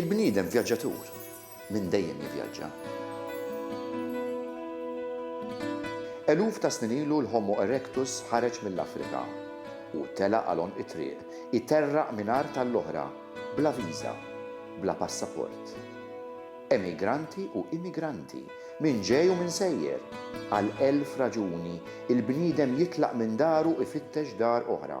Il-bniedem vjaġġatur minn dejjem jivjaġġa. Eluf ta' snin ilu l-Homo erectus ħareġ mill-Afrika u telaq għal għonq it-triq, iterraq minn art għall-oħra, bla viża, bla passaport. Emigranti u immigranti, min ġej u min sejjer, għal elf raġuni, il-bniedem jitlaq minn daru ifittex dar oħra.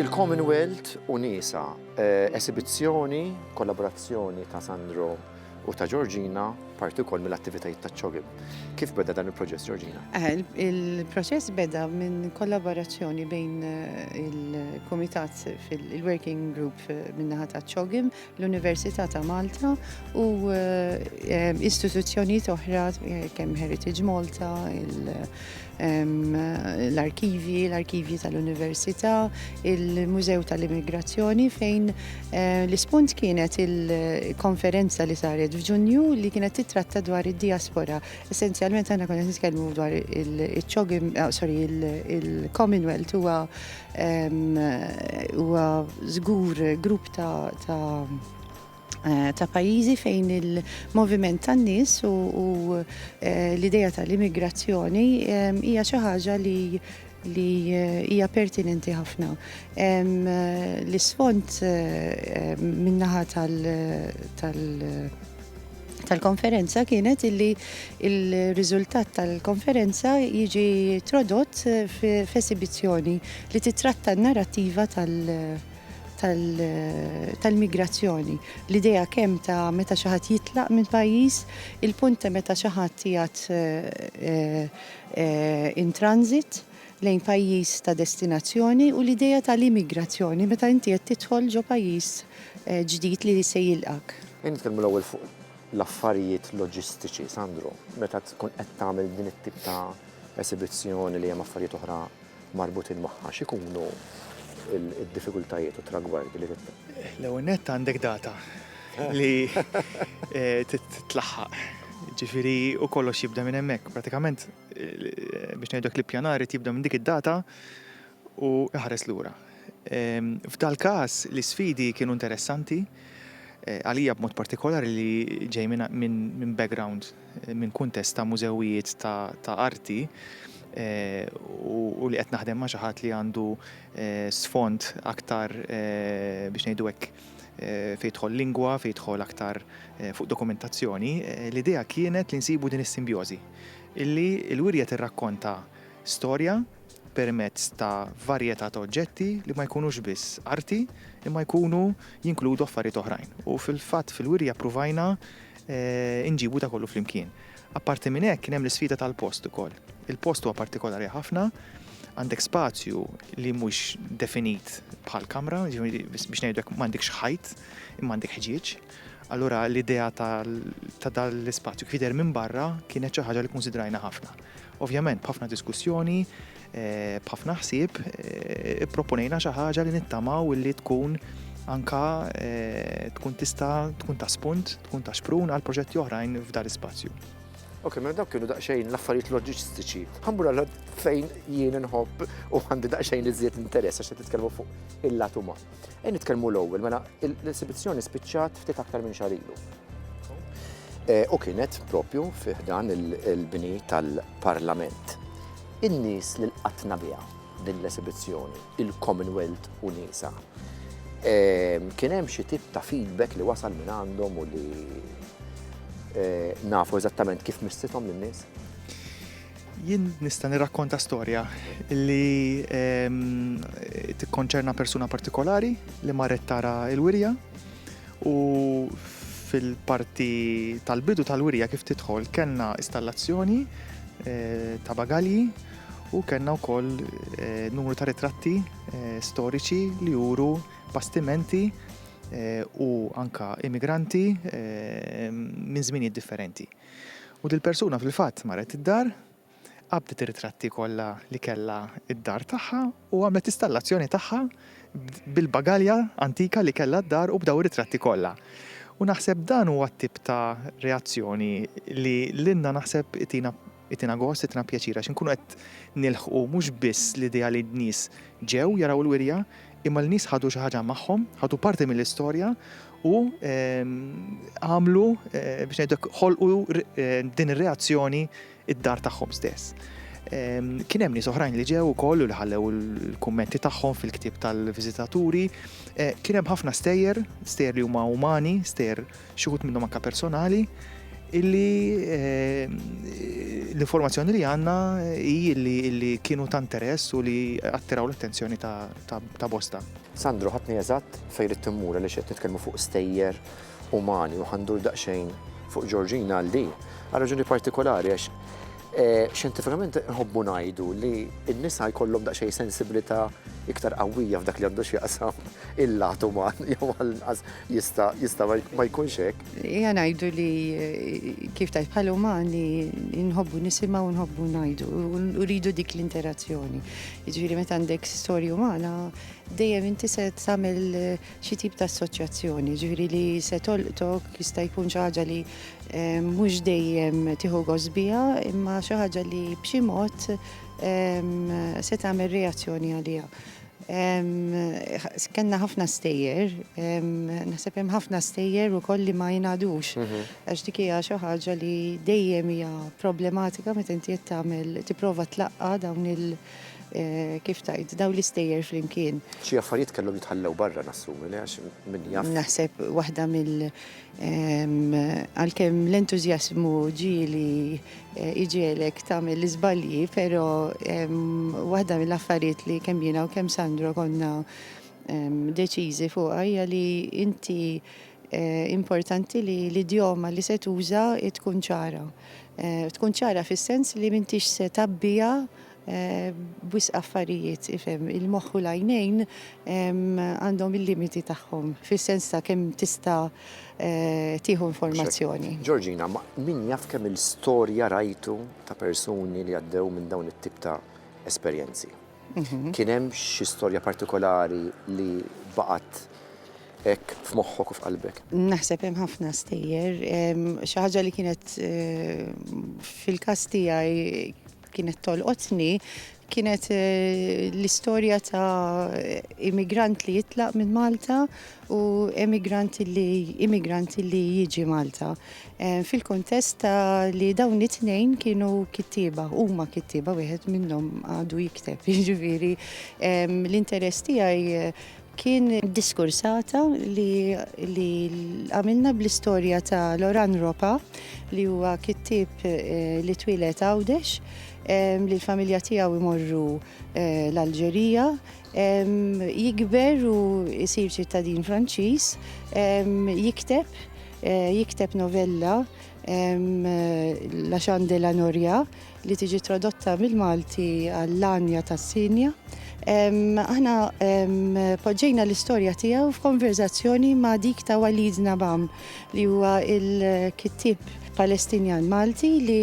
Il-Commonwealth u Nisa, esibizzjoni, kollaborazzjoni ta' Sandro u ta' Georgina, parti wkoll mill-attivitajiet ta' ċogib. Kif beda dan il-proċess, Georgina? Eh, il-proċess beda minn kollaborazzjoni bejn eh, il-Komitat fil-Working Group eh, minnaħat ta' ċogim l-Università ta' Malta u eh, istituzzjonijiet oħra eh, kemm Heritage Malta, l-arkivji, l-arkivji tal-Università, il-Mużew tal-Immigrazzjoni fejn eh, l-ispunt kienet il-konferenza li saret f'Ġunju li kienet titratta dwar id-diaspora. Essenzjalment aħna konna nitkellmu dwar il-ċogim, ah, sorry, il-Commonwealth huwa Huwa żgur grupp ta' Eh, ta' pajjiżi fejn il-moviment tan-nies u eh, l-idea tal-immigrazzjoni eh, hija xi ħaġa li li hija pertinenti ħafna. L-isfond minnaħa tal- tal-konferenza kienet illi il-riżultat tal-konferenza jiġi trodott f'esibizzjoni li titratta n-narrattiva tal- tal-migrazzjoni. L-idea kemm ta' meta xi ħadd jitlaq minn pajjiż, il-punt ta' meta xi ħadd jgħat eh, eh, in transit, lejn pajjiż ta' destinazzjoni u l-idea tal-immigrazzjoni meta inti qed tidħol ġo pajjiż ġdid li se jilqgħek. Ejja nitkellmu l-ewwel fuq l-affarijiet loġistiċi, Sandro, meta tkun qed tagħmel din it-tip ta' esibizzjoni li hemm affarijiet oħra marbutin magħha, x'ikunu d-diffikultajiet u t-tragwardi li trid. L-ewwel nett għandek data li trid tlaħħaq, jiġifieri u kollox jibda minn hemmhekk. Prattikament biex ngħidlek li pjanar irid jibda minn dik id-data u iħares lura. F'dal-każ l-isfidi kienu interessanti eh, għalija b'mod partikolari li ġej minn background, eh, minn kuntest ta' mużewijiet ta' arti eh, u li qed naħdem ma' xi ħadd li għandu sfond aktar biex ngħidu hekk fejtħol lingwa, fejtħol aktar fuq dokumentazzjoni, l-idea kienet li nsibu din is-simbjożi. Illi l-wirja tirrakkonta storja permezz ta' varjetà ta' oġġetti li ma jkunux biss arti imma jkunu jinkludu affarijiet oħrajn. U fil-fatt fil-wirja ppruvajna nġibu da kollu flimkien. Apparti minn hekk kien hemm l-isfida tal-post ukoll. Il-post huwa partikolari ħafna, għandek spazju li mhux definit bħal kamra, jiġifieri biex ngħidu hekk m'għandekx ħajt imma għandek ħġieġ. Allura l-idea ta' dan l-ispazju kif jidher minn barra kienet xi ħaġa li kkunsidrajna ħafna. Ovvjament b'ħafna diskussjoni, eh, b'ħafna ħsieb, eh, ipproponejna xi ħaġa li nittamaw li tkun anka eh, tkun tista' tkun ta' spunt, tkun ta' xprun għal proġetti oħrajn f'dar ispazju. Ok, ma mela dawk kienu daqsxejn l-affarijiet loġistiċi. Ħambur għal fejn jien nħobb u għandi daqsxejn iżjed interess għax titkellmu fuq il-lat uman. Ej nitkellmu l-ewwel, mela l-esibizzjoni spiċċat ftit aktar minn xahar ilu. Eh, u kienet propju fih dan il-bini tal-Parlament. In-nies li l-qatna biha din l-esibizzjoni, il-Commonwealth u nisa. Eh, kien hemm xi tip ta' feedback li wasal minn għandhom u li eh, nafu eżattament kif missithom lin-nies. Jien nista' nirrakkonta storja li tikkonċerna persuna partikolari li marret tara il-wirja u fil-parti tal-bidu tal-wirja kif tidħol kellna installazzjoni eh, ta' bagalji u kellna wkoll eh, numru ta' ritratti eh, storiċi li juru bastimenti u anka immigranti minn żminijiet differenti. U dil-persuna fil-fatt marret id-dar, qabdet ir-ritratti kollha li kellha d-dar tagħha u għamlet l-istallazzjoni tagħha bil-bagalja antika li kellha d-dar u b'daw ir-ritratti kollha. U naħseb dan huwa t-tip ta' reazzjoni li lilna naħseb itina itina gost, itina pjaċir għax inkunu qed nilħqu mhux biss l-idea li n-nies ġew jaraw il-wirja, Imma l-nies ħadu xi ħaġa magħhom, ħadu parti mill-istorja u għamlu biex ngħidlek ħolqu din ir-reazzjoni id-dar tagħhom stess. Kien hemm nies oħrajn li ġew ukoll u li ħallew il-kummenti tagħhom fil-ktieb tal-viżitaturi. Eh, kien hemm ħafna stejjer, stejjer li huma umani, stejjer xi wħud minnhom anke personali, illi eh, l-informazzjoni li għanna hi li kienu ta' interess u li attiraw l-attenzjoni ta' bosta. Sandro, ħatni eżatt fejn rid timmura li xed nitkellmu fuq stejjer umani u ħandur daqsxejn fuq Ġorġina għal din. Għal raġuni partikolari għax Xjentifikament inħobbu ngħidu li n-nisa jkollhom daqsxejn sensibilità iktar qawwija f'dak li għandu x'jaqsam il-lat uman jew għall-inqas jista' jista' ma jkunx hekk. Hija ngħidu li kif tgħid bħal umani nħobbu nisimgħu nħobbu ngħidu u rridu dik l-interazzjoni. Jiġifieri meta għandek storja umana dejjem inti se tagħmel xi tip ta' assoċjazzjoni, ġifieri li se tolqtok jista' jkun xi ħaġa li eh, mhux dejjem tieħu gosbija, imma xi ħaġa li b'xi mod ehm, se tagħmel reazzjoni għaliha. Ehm, kenna ħafna stejjer, ehm, naħseb hemm ħafna stejjer ukoll li ma jingħadux. Mhm. Għax dik hija xi ħaġa li dejjem hija problematika meta inti qed tagħmel tipprova tlaqqa dawn il- kif tajt, daw l-istejjer flimkien. Xi affarijiet kellhom jitħallew barra nassumi li għax min jaf. Naħseb waħda mill għalkemm l-entużjażmu ġieli eh, iġielek tagħmel l-iżbalji, però waħda mill-affarijiet li kemm jiena u kemm Sandro konna deċiżi fuq hija li inti eh, importanti li l-idjoma li se tuża tkun ċara. Tkun ċara fis-sens li m'intix se tgħabbiha b'wisq affarijiet, ifhem, il-moħħ u l-għajnejn għandhom il-limiti tagħhom, fis-sens ta' kemm tista' tieħu informazzjoni. Georgina, ma min jaf kemm il-storja rajtu ta' persuni li għaddew minn dawn it-tip ta' esperjenzi? Mhm. Kien hemm xi storja partikolari li baqgħet hekk f'moħħok u f'qalbek? Naħseb hemm ħafna stejjer. Xi ħaġa li kienet eh, fil-każ tiegħi kienet tolqotni kienet eh, l-istorja ta' immigrant li jitlaq minn Malta u emigranti li immigranti li jiġi Malta fil-kontest ta' li dawn it-tnejn kienu kittieba, huma kittieba wieħed minnhom għadu jikteb, jiġifieri l-interess tiegħi kien diskursata li li għamilna bl-istorja ta' Loran Ropa li huwa kittieb eh, li twieled Għawdex li l-familja tiegħu imorru eh, l-Alġerija Jikber u jsir ċittadin Franċiż, jikteb, jikteb novella La Chante de la Noria li tiġi tradotta mill-Malti għall-Anja tas-Sinja. Aħna poġġejna l-istorja tiegħu f'konverżazzjoni ma' dik ta' Walid Nabam li huwa l-kittieb Palestinjan Malti li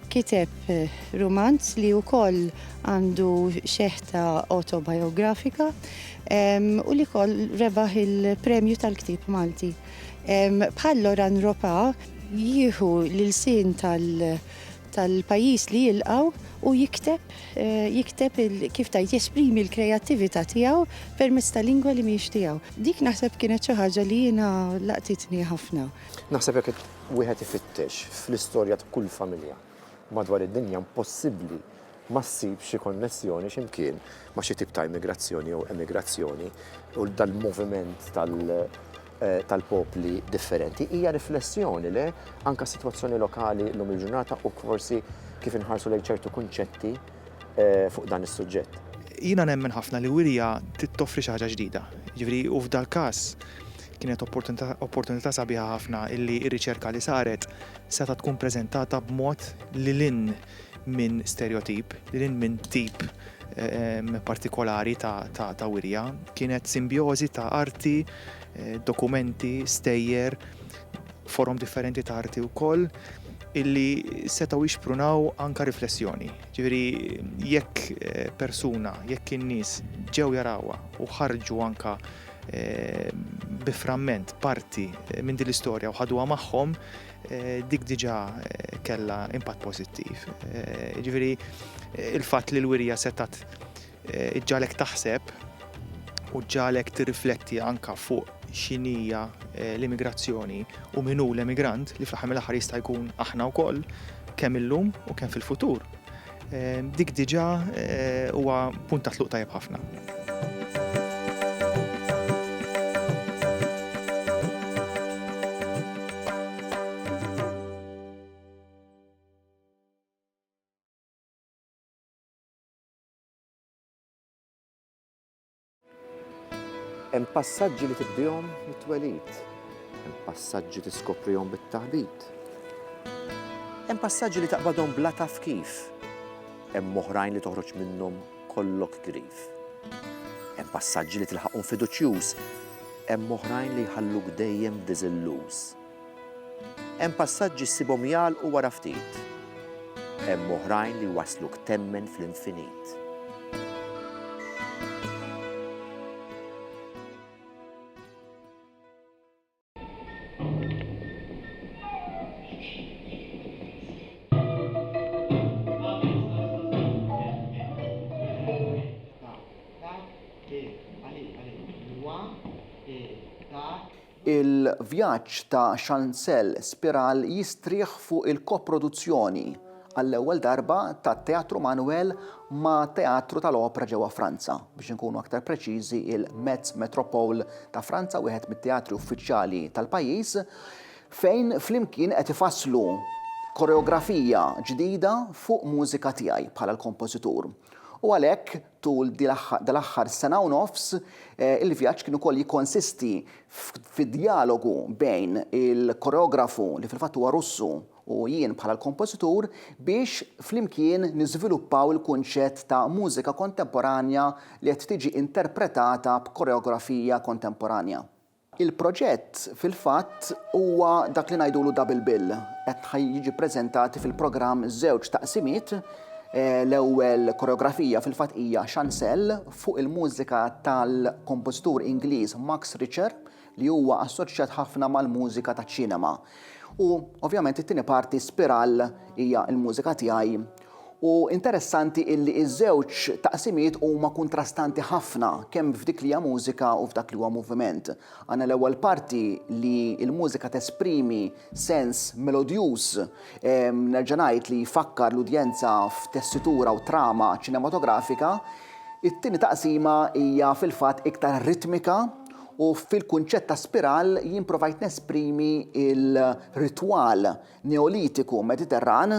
Kiteb rumanz li wkoll għandu xeħta autobiografika u li koll rebaħ il-premju tal-ktib Malti. Bħal Loran Ropa jieħu l-sin tal-pajis li jilqaw u jikteb, eh, jikteb kif tajt jesprimi l-kreativita tijaw permezz ta' lingwa li miex tijaw. Dik naħseb kienet xi ħaġa li jiena laqtitni ħafna. Naħseb jekk wieħed ifittex fl-istorja ta' kull familja madwar id-dinja impossibbli ma ssib xi konnessjoni xi mkien ma' xi tip ta' immigrazzjoni jew emigrazzjoni u dal-moviment tal-popli differenti. Hija riflessjoni, le? Anke s-sitwazzjoni lokali llum il-ġurnata u forsi kif inħarsu lejn ċertu kunċetti fuq dan is-suġġett. Jiena nemmen ħafna li wirja trid toffri xi ħaġa ġdida. Jiġifieri, u f'dal-każ, Kienet opportunità sabiħa ħafna illi r-riċerka li saret setgħet tkun preżentata b'mod lil hinn minn sterjotip, lil hinn minn tip partikolari ta' wirja. Kienet simbjożi ta' arti, dokumenti, stejjer, forom differenti ta' arti wkoll illi setgħu jixprunaw anke riflessjoni. Ġifieri jekk persuna, jekk in-nies ġew jarawha u ħarġu anke bi framment, parti minn din l-istorja u ħaduha magħhom, dik diġà kellha impatt pożittiv. Ġifieri il-fatt li l-wirja setat ġalek taħseb u ġalek tirrifletti anka fuq xinija eh, l-immigrazzjoni u minu l-emigrant li fl-ħamil aħħar jista' jkun aħna wkoll kemm illum u kemm fil-futur. Dik diġà huwa punt ta' tluq tajjeb ħafna. Hemm passaġġi li tibdihom mit-twelid. Hemm passaġġi tiskoprihom bit-taħbit. Hemm passaġġi li taqbadhom bla taf kif. Hemm oħrajn li toħroġ minnhom kollok grif. Hemm passaġġi li tilħaqhom fiduċjuż. Hemm oħrajn li jħalluk dejjem diżilluż. Hemm passaġġi ssibhom jagħlqu wara ftit. Hemm oħrajn li jwassluk temmen fl-infinit. Il-vjaġġ ta' Chancel Spiral jistrieħ fuq il-koproduzzjoni, għall-ewwel darba, ta' Teatru Manuel ma' Teatru tal-Opra ġewwa Franza, biex inkunu aktar preċiżi il-Metz Métropole ta' Franza, wieħed mit-teatri uffiċjali tal-pajjiż, fejn flimkien qed ifasslu koreografija ġdida fuq mużika tiegħi bħala l-kompożitur. U għalhekk. Tul dal-aħħar sena u nofs, il-vjaġġ kien ukoll jikkonsisti fi djalogu bejn il-koreografu, li fil-fatt huwa Russu, u jien bħala l-kompożitur biex flimkien niżviluppaw il-kunċett ta' mużika kontemporanja li qed tiġi interpretata b'koreografija kontemporanja. Il-proġett, fil-fatt, huwa dak li ngħidulu double bill. Qed ħa jiġi ppreżentati fil-programm żewġ taqsimiet, l-ewwel koreografija fil-fatt hija Chancelle fuq il-mużika tal-kompożitur Ingliż Max Richter li huwa assoċjat ħafna mal-mużika taċ-ċinema. U, ovvjament, it-tieni parti Spiral hija l-mużika tiegħi U interessanti illi ż-żewġ taqsimiet huma kuntrastanti ħafna kemm f'dik li hija mużika u f'dak li huwa moviment. Għandna l-ewwel parti li l-mużika tesprimi sens melodjuż, nerġa' ngħid li jfakkar l-udjenza f'tessitura u trama ċinematografika. It-tieni taqsima hija fil-fatt iktar ritmika u fil-kunċett ta' spiral jien provajt nesprimi l-ritwal Neolitiku Mediterran,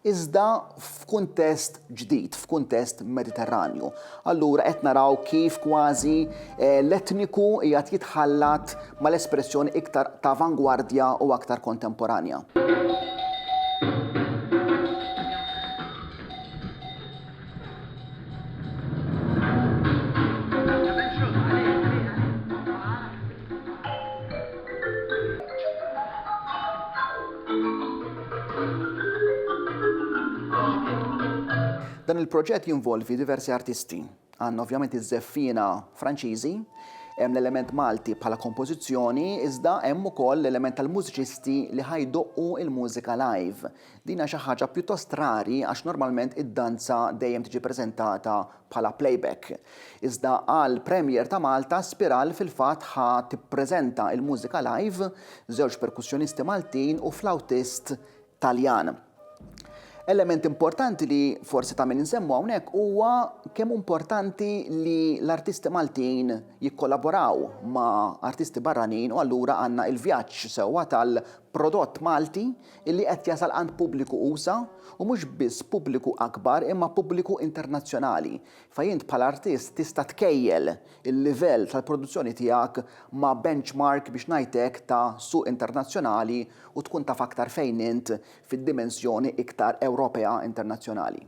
iżda f'kuntest ġdid, f'kuntest Mediterranju. Allura qed naraw kif kważi l-etniku qiegħed jitħallat mal-espressjoni iktar t'avangwardja u aktar kontemporanja. Dan il-proġett jinvolvi diversi artisti. Għandna ovvjament iż-żeffiena Franċiżi, hemm l-element Malti bħala kompożizzjoni iżda hemm ukoll l-element tal-mużiċisti li ħa jdoqqu l-mużika live. Din hija xi ħaġa pjuttost rari għax normalment id-danza dejjem tiġi preżentata bħala playback. Iżda għall-premiere ta' Malta, Spiral fil-fatt ħa tippreżenta il-mużika live, żewġ perkussjonisti Maltin u flawtist Taljan. Element importanti li forsi ta' min insemmu hawnhekk huwa kemm importanti li l-artisti Maltin jikkollaboraw ma' artisti barranin u allura għandna il-vjaġġ sewwa tal-prodott Malti illi qed jasal għand pubbliku usa' u mhux biss pubbliku akbar imma pubbliku internazzjonali, fejn int bħala artist tista' tkejjel il-livell tal-produzzjoni tiegħek ma' benchmark biex ngħid hekk ta' suq internazzjonali u tkun taf aktar fejn int fid-dimensjoni iktar Ewropea internazzjonali.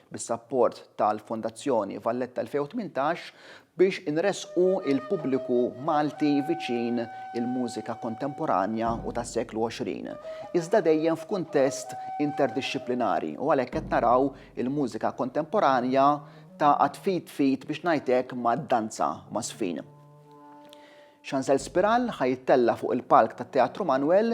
bis-sapport tal-Fondazzjoni Valletta 2018, biex inressqu l-pubbliku Malti viċin il-mużika kontemporanja u tas-seklu 20, iżda dejjem f'kuntest interdixxiplinari u għalhekk qed naraw il-mużika kontemporanja tagħqad f'id f'id biex ngħid hekk mad-danza m'għażfin. Xanżel Spiral ħa jittella' fuq il-palk tat-Teatru Manwel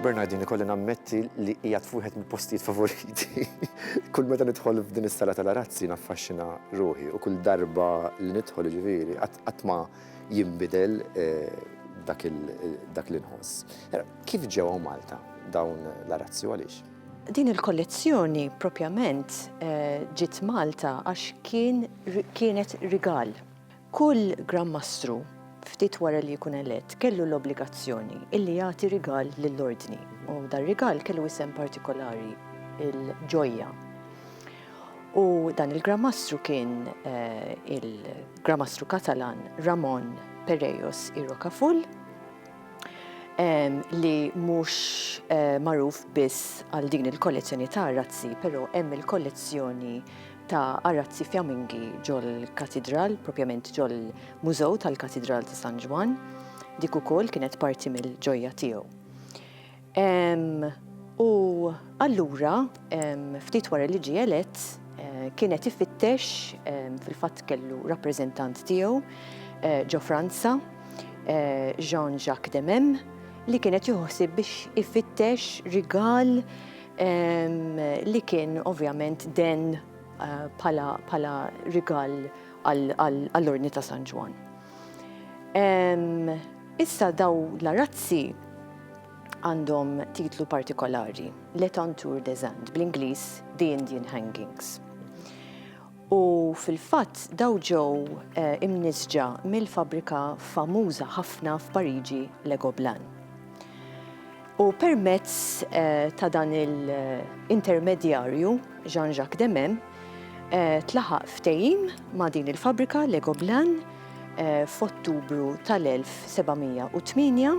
Bernardin, ikolli nammetti li hija tfuħet mill-postijiet favoriti. Kull meta nidħol f'din is-sala tal-arazzi naffaxxina ruħi u kull darba li nidħol ġifieri qatt ma jinbidel dak l-inħoss. Kif ġewa Malta dawn l-arazzi għaliex? Din il-kollezzjoni propjament eh, ġiet Malta għax kienet rigal. Kull Gran Mastru ftit wara li jkun elett kellu l-obbligazzjoni illi jagħti rigal lill-ordni u dar rigal kellu isem partikolari il-ġojja. U dan il-Gran Mastru kien il-Gran Mastru Katalan Ramon Perejos i Rocafull li mhux magħruf biss għal din il-kollezzjoni ta' arazzi, però hemm il-kollezzjoni ta' arazzi fjamingi ġol-Katidral, propjament ġol-Mużew tal-Katidral ta' San Ġwann, dik ukoll kienet parti mill-ġojja tiegħu. U allura, ftit wara li ġie elett, kien qed ifittex, fil-fatt kellu rappreżentant tiegħu ġo Franza, Jean Jacques de Memes, li kien qed jieħu ħsieb biex ifittex rigal li kien ovvjament denn bħala rigal għall-Ordni ta' San Ġwann. Issa daw l-arazzi għandhom titlu partikolari, L'Etanture des Indes, bl-Ingliż The Indian Hangings. U fil-fatt daw ġew eh, imnisġa mill-fabrika famuża ħafna f'Pariġi Legoblan. U permezz ta' dan il-intermedjarju, Jean-Jacques Demem, tlaħaq ftehim ma' din il-fabbrika Legoblan f'Ottubru tal-1708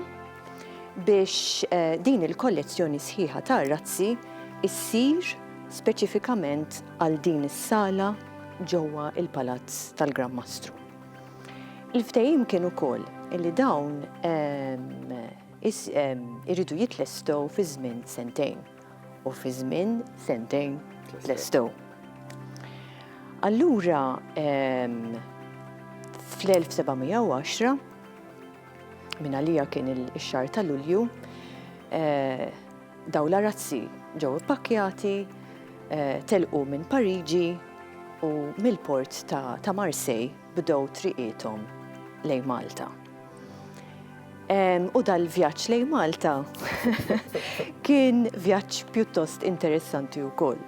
biex din il-kollezzjoni sħiħa ta' razzi ssir speċifikament għal din is-sala ġewwa l-Palazz tal-Gran Mastru. Il-ftehim kien ukoll li dawn iridu jitlestew fi żmien sentejn u fi żmien sentejn tlestew. Allura fl-1710 minn għalija kien ix-xahar ta' Lulju eh, daw l-arazzi ġew ippakkjati eh, telqu minn Pariġi u mill-port ta' Marsej bdew triqiethom lejn Malta. U dal-vjaġġ lejn Malta kien vjaġġ pjuttost interessanti wkoll.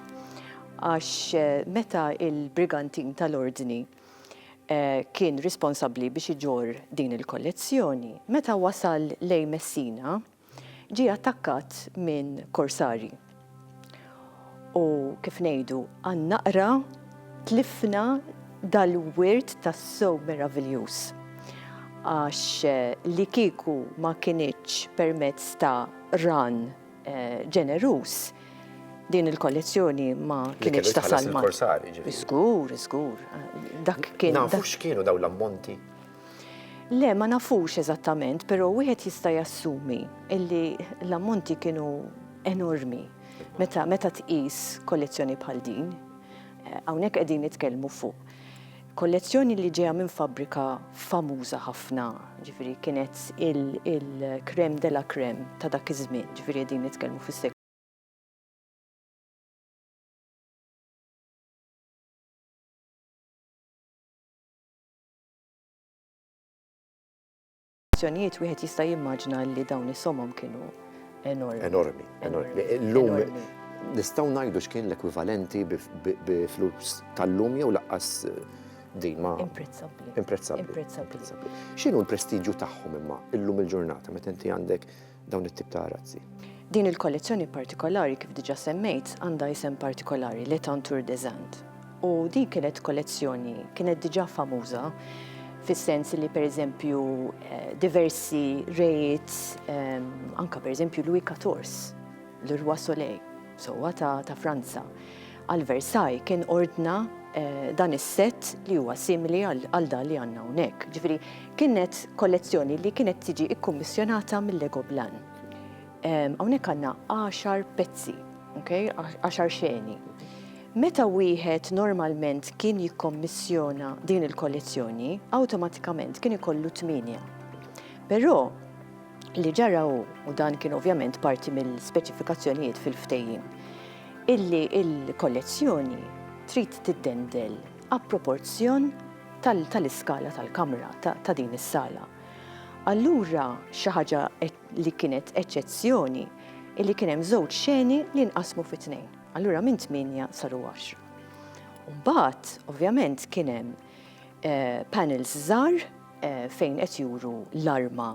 Għax eh, meta il-brigantin tal-ordni eh, kien responsabbli biex iġor din il-kollezzjoni, meta wasal lejn Messina, ġie attakkat minn korsarji u kif ngħidu għal naqra tlifna dal-wirt tassew meraviljuż għax li kieku ma kinitx permezz ta' qran ġeneruż din il-kollezzjoni ma kinitx tasal ma' Li kellu jitħallas lill-korsarji ġifieri. Żgur, żgur. Dak kien. Nafu x'kienu dawn l-ammonti? Le, ma nafux eżattament, però wieħed jista' jassumi illi l-ammonti kienu enormi meta meta tqis kollezzjoni bħal din. Hawnhekk qegħdin nitkellmu fuq kollezzjoni li ġejja minn fabbrika famuża ħafna, ġifieri kienet il-crème de la crème ta' dak iż-żmien, ġifieri qegħdin nitkellmu fis-seklu Azzjonijiet wieħed jista' jimmaġna li dawn is-somom kienu enormi. Enormi, enormi. Illum nistgħu ngħidu x'kien l-ekwivalenti bi flus tal-lum jew laqqas eh, din ma. Imprezzabbli. Imprezzabbli. X'inhu l-prestiġju tagħhom imma illum il-ġurnata meta inti għandek dawn it-tip ta' arazzi. Din il-kollezzjoni partikolari kif diġà semmejt għandha isem partikolari Le Tantour des Indes. U din kienet kollezzjoni kienet diġà famuża fis-sens li pereżempju eh, diversi rejt eh, anka pereżempju Louis XIV, l-Roi Soleil, sewwa ta', ta Franza, għal Versailles kien ordna dan is-sett li huwa simili għal dan li għandna hawnhekk. Ġifieri kienet kollezzjoni li kienet tiġi kkummissjonata mill-Lego Blan. Hawnhekk għandna għaxar pezzi, għaxar xeni. Meta wieħed normalment kien jikkommissjona din il-kollezzjoni, awtomatikament kien ikollu tmienja. Però Li ġara hu, u dan kien ovvjament parti mill-speċifikazzjonijiet fil-ftehim, illi l-kollezzjoni trid tiddendel għall-proporzjon tal-iskala tal-kamra ta' din is-sala. Allura xi ħaġa li kienet eċċezzjoni hi li kien hemm żewġ xeni li nqasmu fi tnejn. Allura minn tmienja saru għaxra. U mbagħad, ovvjament, kien hemm eh, panels żgħar fejn qed juru l-arma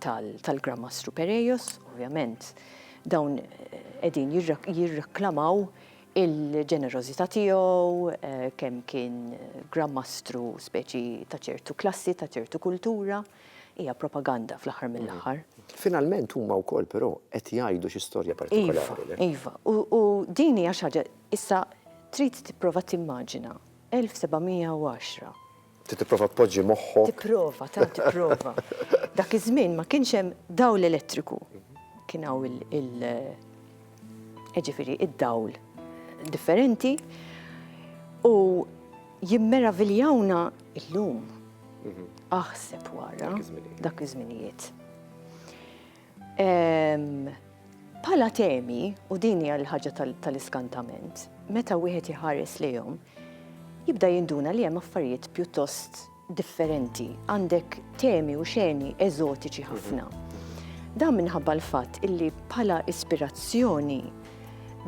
tal-Gran Mastru Perejos, ovvjament dawn qegħdin jirreklamaw il-ġenerożità tiegħu, eh, kemm kien Gran Mastru speċi ta' ċertu klassi, ta' ċertu kultura, hija propaganda fl-aħħar mm. mill-aħħar. Finalment huma wkoll però qed jgħidu xi storja partikolari. Iva, iva. u din hija xi ħaġa issa trid tipprova timmaġina 1710 Ti tipprova tpoġġi moħħok. Tipprova, tant tipprova. Dak iż-żmien ma kienx hemm dawl elettriku. Kien hawn il- ġifieri id-dawl differenti u jimmeraviljawna illum. Aħseb wara dak iż-żminijiet. Bħala temi, u din hija l-ħaġa tal-iskantament, meta wieħed iħares lejhom, jibda jinduna li hemm affarijiet pjuttost differenti. Għandek temi u xeni eżotiċi ħafna. Dan minħabba l-fatt illi bħala ispirazzjoni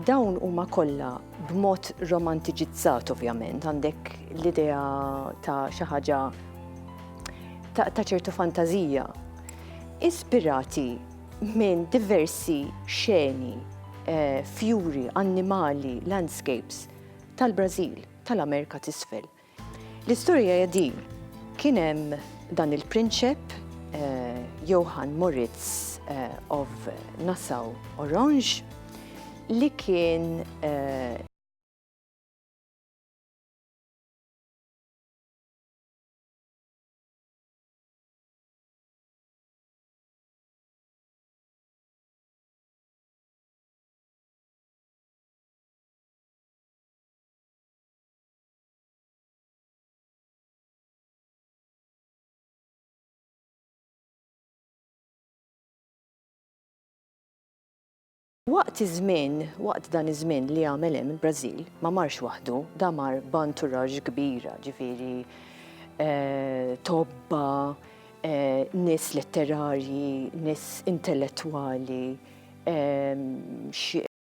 Dawn huma kollha b'mod romantiċizzat ovvjament, għandek l-idea ta' xi ħaġa ta' ċertu fantażija, ispirati minn diversi xeni, eh, fjuri, annimali, landscapes tal-Brażil, tal-Amerika t'isfel. L-istorja hija din, kien hemm dan il-prinċep Johann Moritz of Nassau-Orange li kien Waqt iż-żmien, waqt dan iż-żmien li għamel hemm il-Brażil, ma marx waħdu, da mar b'anturaġġ kbira, ġifieri eh, tobba, eh, nies letterarji, nies intellettwali, eh,